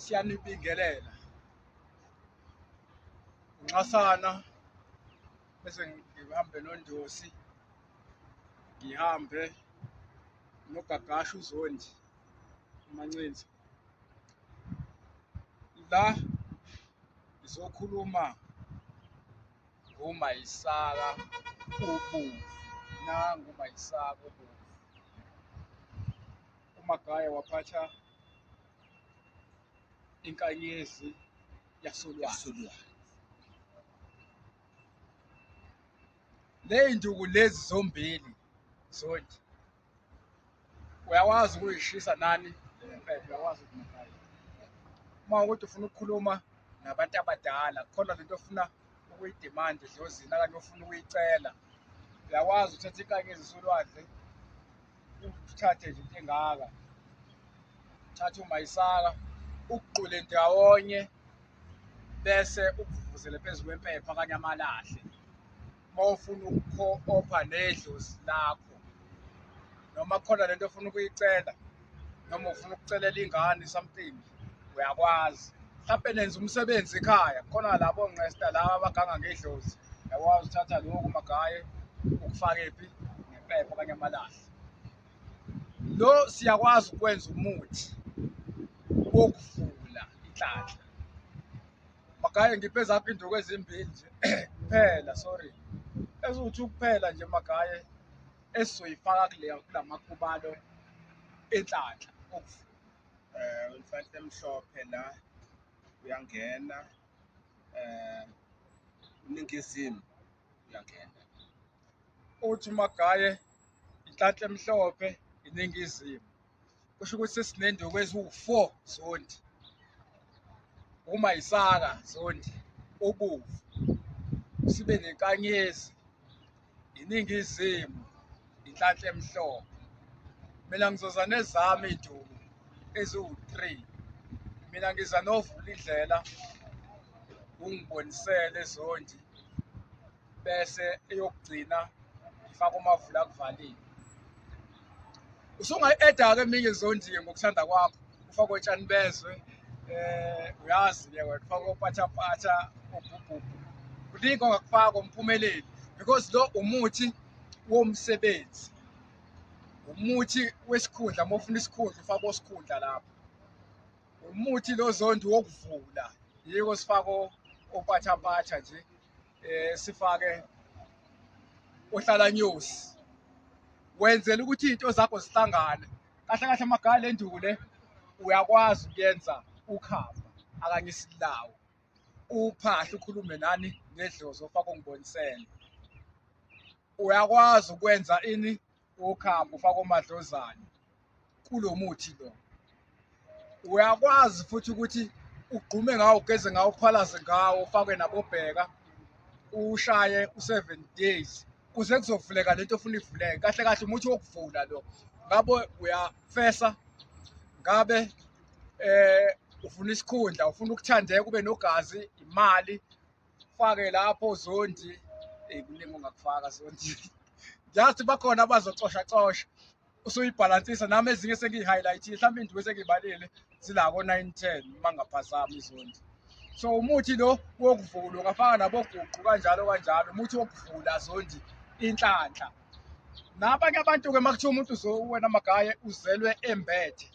siyanibingelela nxasana bese ngihambe nondosi ngihambe nogagasha uzondi umancinza la ngizokhuluma ngomayisaka ubomvu nangomayisaka ubomvu uMagaya waphatha inkanyezi yasolwandle. Ley'nduku lezi zombili zondi uyakwazi ukuyishisa nani impepho uyakwazi ukumagaya uma ukuthi ufuna ukukhuluma nabantu abadala khona lento ofuna ukuyidimanda edlozini akanye ofuna ukuyicela uyakwazi uthatha inkanyezi solwandle uthathe nje into engaka thatha umayisaka ukuqule ndawonye bese ukuvuvuzele phezu kwempepha kanye amalahle uma ufuna ukukho-opha nedlozi lakho noma khona lento ofuna ukuyicela noma ufuna ukucelela ingane something uyakwazi mhlampe nenza umsebenzi ekhaya khona labo ngqesta laba abaganga ngedlozi yakwazi uthatha lokhu magaye ukufake phi ngephepha okanye amalahle lo siyakwazi ukwenza umuthi wokuvula inhlanhla magaye ngiphe zakho induku ezimbili nje kuphela sorry eziwuthi ukuphela nje magaye esizoyifaka kule kulamakhubalo enhlanhla okuvula um inhlanhla emhlophe la uyangena um ningizimu uyangena uthi umagaye inhlanhla emhlophe iningizimu kusho ukuthi sesinenduku eziwu-four zondi uma yisaka zondi ubuvu sibe nenkanyezi iningizimu inhlanhla emhlophe mina ngizoza nezami iy'duku eziwu-three mina ngiza novula indlela ungibonisele zondi bese eyokugcina ngifake umavula akuvalile usungayi-eda-ke eminye izondiye ngokuthanda kwakho ufakwe otshani bezwe um uyazi ke wena ufakwe opatshapatsha obhubhubhu kuningi ongakufaka umphumeleli because lo umuthi womsebenzi umuthi wesikhundla uma ufuna isikhundla ufaka osikhundla lapho umuthi lo zondi wokuvula yiko sifako opathampatha nje eh sifake uhlala news wenzela ukuthi izinto zakho zihlangane kahle kahle magala enduku le uyakwazi ukuyenza ukhamba akanye isilawo uphahle ukhulume nani nedlozi ofaka ungibonisele uyakwazi ukwenza ini okhambo ufaka omadlozane kulo muthi lo uyakwazi futhi ukuthi ugqume ngawo ugeze ngawo uphalaze ngawo ufake nabobheka ushaye u-seven days kuze kuzovuleka lento ofuna ivuleke kahle kahle umuthi wokuvula lo ngabe uyafesa ngabe eh ufuna isikhundla ufuna ukuthandeka ube nogazi imali fake lapho zondi eyi kuningi ongakufaka zondi ngiyazi bakhona abazocosha cosha usuyibhalansisa nami ezinye sengiyi-highlight-ile mhlawumbe indiwe sengiyibalile zila ko-nine ten uma ngaphazami izondi so umuthi lo wokuvula ungafaka naboguqu kanjalo kanjalo umuthi wokuvula zondi inhlanhla nabanye abantu-ke uma kuthiwa umuntu wena magaye uzelwe embethe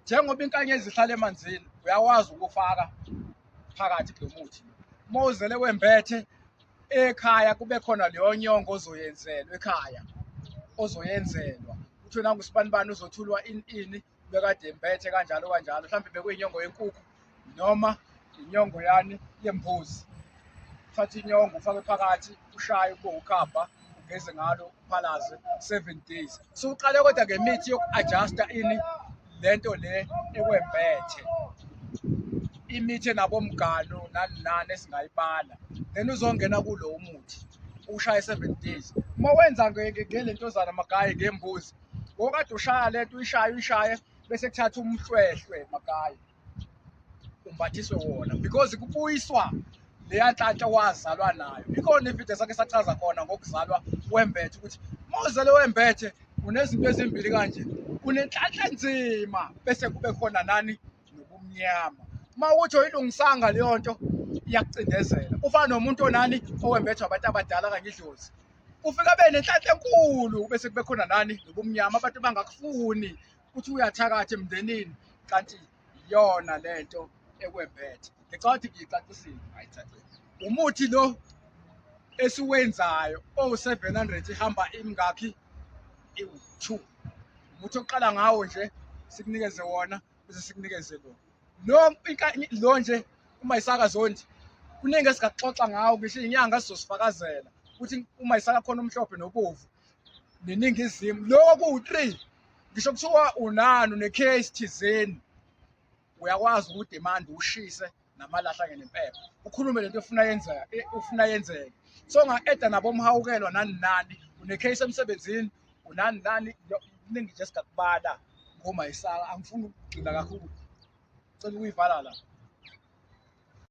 njengoba inkanyezi ihlala emanzini uyakwazi ukufaka phakathi kulo muthi uma uzele wembethe ekhaya kube khona leyo nyongo ozoyenzelwa ekhaya ozoyenzelwa kuthiwe nangusibanibani uzothulwa ini ini bekade embethe kanjalo kanjalo mhlawumbe bekuyinyongo yenkukhu noma inyongo yani yembuzi uthathe inyongo ufake phakathi ushaye ube ukhamba ugeze ngalo uphalaze seven days so uqale kodwa ngemithi yoku-adjusta ini le nto le ekwembethe imithi enabomgalo nani nani esingayibala then uzongena kulo umuthi ushaya i-seven days uma wenza ngelentozana magaye ngembuzi ngokade ushaya le nto uyishaye uyishaye bese kuthatha umhlwehlwe makayi umbathiswe wona because kubuyiswa leya nhlanhla wazalwa nayo ikhona ividiyo sakhe sachaza khona ngokuzalwa wembethe ukuthi uma uzalwe wembethe unezinto ezimbili kanje unenhlanhla nzima bese kube khona nani nobumnyama uma ukuthi oyilungisanga leyo nto iyakucindezela ufana nomuntu onani owembethwa abantu abadala kanye idlozi ufika be nenhlanhla enkulu bese kube khona nani nobumnyama abantu bangakufuni ukuthi uyathakatha emndenini kanti iyona lento ekwembethe ngicabanga ukuthi ngiyicacisile ayicacile umuthi lo esiwenzayo owu-700 ihamba imingakhi iwu-2 umuthi oqala ngawo nje sikunikeze wona bese sikunikeze lo lo lo nje uma isaka zondi kuningi esingaxoxa ngawo ngisho inyanga sizosifakazela ukuthi uma isaka khona umhlophe nobovu neningizimu lokho kuwu-three ngisho kuthiwa unani unecase thizeni uyakwazi ukudimanda ushise namalahle angenimpepho ukhulume lento ofuna yenzeka eh, ufuna yenzeke so nga-eda nabo mhawukelwa nani nani une-case emsebenzini unani nani kuningi nje singakubala ngomayisaka angifuni ukugcina kakhulu cela ukuyivala la